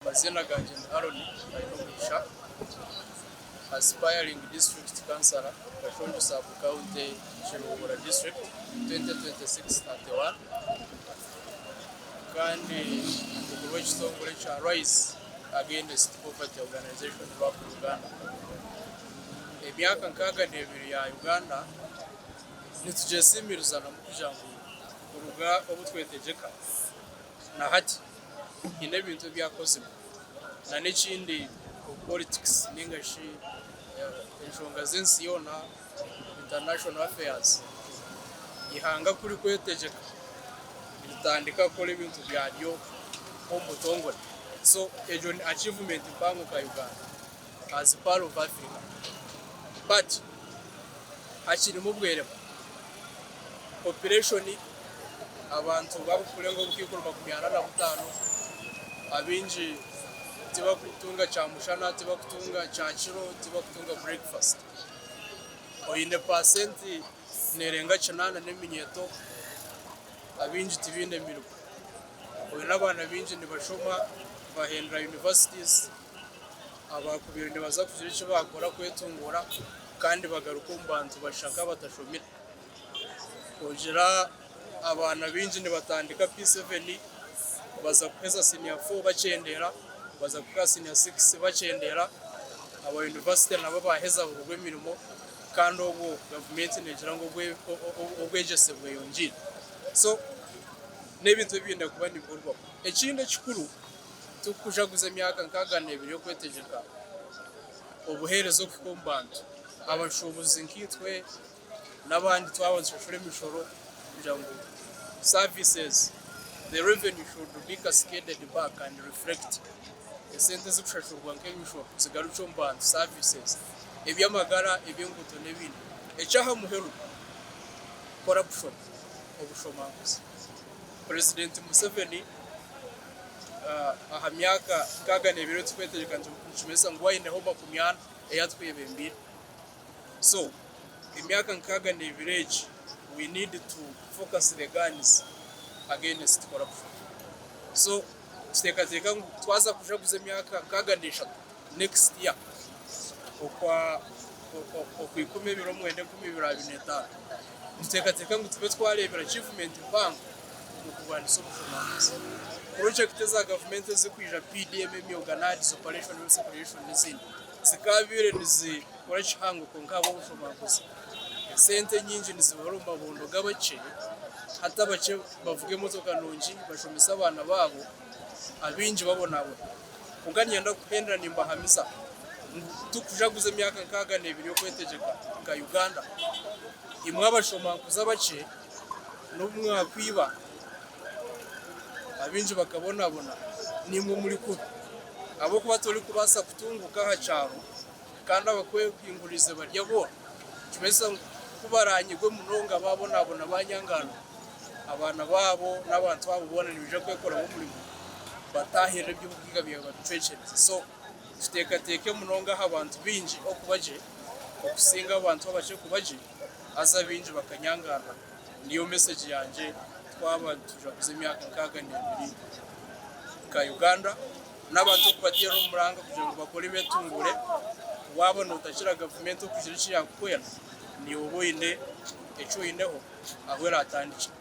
Amazina gangye ni Aaron Bainomugisha, Aspiring District Councillor, Kashonjo Sub County, Kiruhura District, 2026-31, kandi omukuru w'ekitongore ekya Rise Against Poverty Organization, RAP, Uganda. Emyaka nkaaga n'ebiri ya Uganda nitugyesiimiriza namu kugira ngu kuruga obu twetegyeka na hati, haine ebintu ebi akozire na n'ekindi omu politics ninga shi enshonga z'ensi yoona, international affairs, eihanga ku rikwetegyeka ritandika kukora ebintu byaryo omu butongore so ekyo ni achievement mpango nka Uganda. As pearl of Africa but hakirimu obweremwa, population abantu bakurenga obukaikuru makumi ana na butano abaingi tibakutunga kyamushana, tibakutunga kyakiro, tibakutunga breakfast oyine percent nerenga kinana neminyeto abaingi tibaine mirimo oyine abaana baingi nibashoma bahendera universities. abaakubaire nibaza kugira eki baakora kwetunguura kandi bagaruke omu bantu bashaka abatashomire kugira abaana baingi nibatandika P7 baza kuheza siniya 4 bakyendeera baza kuhika aha siniya 6 bakyendeera aba yunivasite nabo baaheza baburwa emirimo kandi obwo gavumenti neegira ngu obwegyese bweyongiire so n'ebintu ebi biine kuba nibikorwaho ekindi ekikuru Tikukujaguza emyaka nkaaga n'ebiri y'okwetegyeka obuheereza okuhika omu bantu. Abashuubuzi nkaitwe n'abandi twaba nitushashura emishoro kugira ngu services, the revenue should be cascaded back and reflect, esente ezikushashurwa nk'emishoro zigarukye omu bantu, services, eby'amagara, eby'enguuto n'ebindi. Eky'aha muheru, corruption, obushomanguzi, Purezidenti Museveni. aha myaka nkaaga n'ebiro turikwetegyeka nikimanyisa ngu waineho makumi ana ei atwebembeire so emyaka nkaaga n'ebiro egi we need to focus the guns against corruption so tuteekateeka ngu twaza kujaguza emyaka nkaaga n'eshatu next year okwa okwa ikumi ebiro mwenda enkumi ibiri abiri n'etaano nituteekateeka ngu tube twareebera achievement mpango n'okurwanisa obufunaguzi. Purojekiti eza gavumenti ezirikwija PDM, Emyoga NAADS, Operation Rescue Creation n'ezindi zikaabaire nizikora kihango kwonka ahabw'obufunaguzi esente nyingi nizibura omu mabondo g'abakye hati abakye bavuga emotoka nungi bashomesa abaana baabo abaingi babonabona kwonka niinyenda kuhendera nimbahamiza ngu tikujaguza emyaka nkaaga n'ebiri y'okwetegyeka nka Uganda imwe abashomankuzi abakye. N'obumwe aha kwiba abaingi bakabonabona, nimwo muri kubi, ahabw'okuba torikubaasa kutunguuka aha kyaro kandi abakwehinguuriize bari abooro. Nikibaasa ku baraanyigwe munonga baabonabona baanyangaana, abaana baabo n'abantu abo boona nibaija kwekoraho omurimo bataahirire ebi Obukiga bwawe babicwekyereze. So tuteekateeke munonga aha bantu baingi okuba gye okusinga abantu abakye kuba gye. Haza baingi bakanyangarra. Niyo mesegi yangye twaba nitujwaguza emyaka nkaaga n'ebiri nka Uganda n'abantu okubateera omuranga kugira ngu bakore betunguure. Waaba notakira gavumenti okugira eki yakuhwera, niiwe oba oine eki oineho ahu eraatandikire.